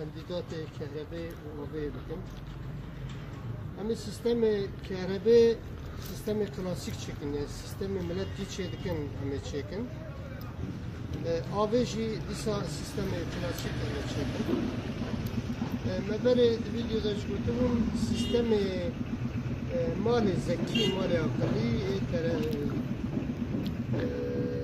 Em dîdatê kehrebê û avê bikin. Em ê sistemê kehrebê sistemê klasîk çêkin ya sistemê milet dî çê dikin em ê çêkin. E, avê jî dîsa sistemê klasîk em ê çêkin. E, me berê di vîdyoda ji gotibûm sistemê e, malê zekî, malê aqilî ê tere e,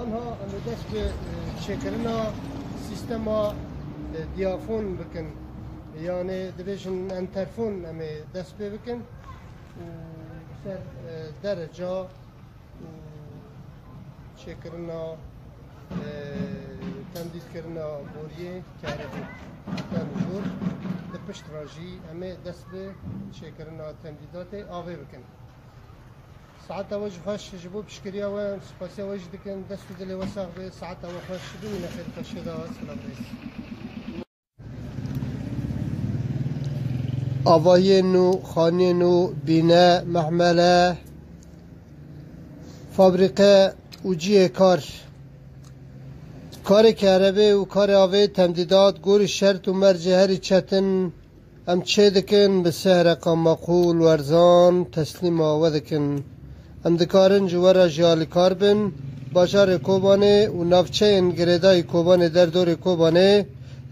Anha em ê dest bi çêkirina sîstema diyafon bikin yanê dibêjin enterfon em ê dest pê bikin û bi ser dereca û çêkirina temdîlkirina boriyê keribû tem û jor di pişt re jî em ê dest bi çêkirina temdîdatê avê bikin. Saeta we jî xweş ji bo piştgiriya we em spasiya we jî dikin. Dest û dilê we sax be. Saeta we xweş. Bimîne xêr xwe şêda Silav Reis. Avayên û xaniyên û bîne, mehmele, fabrîke û cihê kar. Karê kerebê û karê avê temdîdat gorî şert û mercê herî çetin, Em çê dikin, bi sih reqa maqûl, werzan, teslîm a we dikin. Em dikarin ji we re jî alîkar bin. Bajarê Kobanê û navçeyên girêdayî Kobanê derdorê Kobanê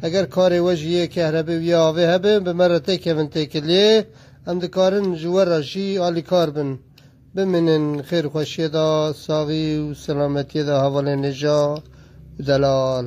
eger karê we ji yê kehrebê û yê avê hebe bi me re tê kevin têkiliyê em dikarin ji we re jî alîkar bin. Bimînin xêr û xweşiyê de, saxî û selametiyê de hevalên hêja û delal.